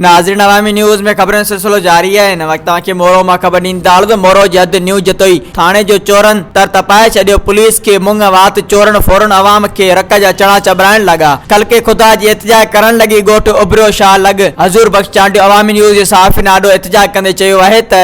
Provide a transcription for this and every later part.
ناظرين عوامي نيوز ۾ خبرن سلسلو جاري آهي هن وقت توهان کي مورو مان خبر ڏين ٿا ته مورو جي حد نيو جتوئي ٿاڻي جو چورن تر تپائي ڇڏيو پوليس کي مڱ وات چورن ڦورن عوام کي رڪ جا چڻا چٻرائڻ لڳا خلقي خدا جي احتجاء ڪرڻ لڳي ڳوٺ ابريو شاهه لڳ حضور بخش چانڊيو عوامي نيوز جي صحافين آڏو احتجاء ڪندي چيو آهي ته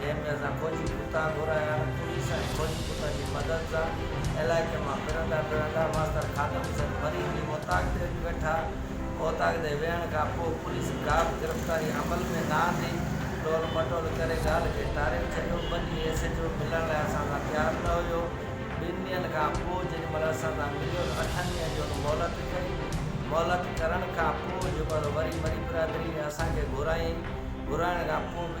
جنهن ۾ اسان فوجي ڪتا گهرايا، پوليس ۽ فوجي ڪتن جي مدد سان علائقي مان ڦرندا ڦرندا ماستر خادم حسين فريد جي اوطاق تي اچي ويٺا، اوطاق تي ويهڻ کان پوء پوليس ڪابه گرفتاري عمل ۾ نه آندي، ٽول مٽول ڪري ڳالهه کي ٽاري به ڇڏيو، ٻه ڏينهن ايس ايڇ او ملڻ لاء اسان سان تيار نه هيو، ٻن ڏينهن کان پوء جيڏي مهل اسان سان مليو ته اٺن ڏينهن جي هن مهلت ڪئي، مهلت ڪرڻ کان پوء جيڪو آهي سو وري مري برادري ۾ اسان کي گهرايائين، گهرائڻ کان پوء به.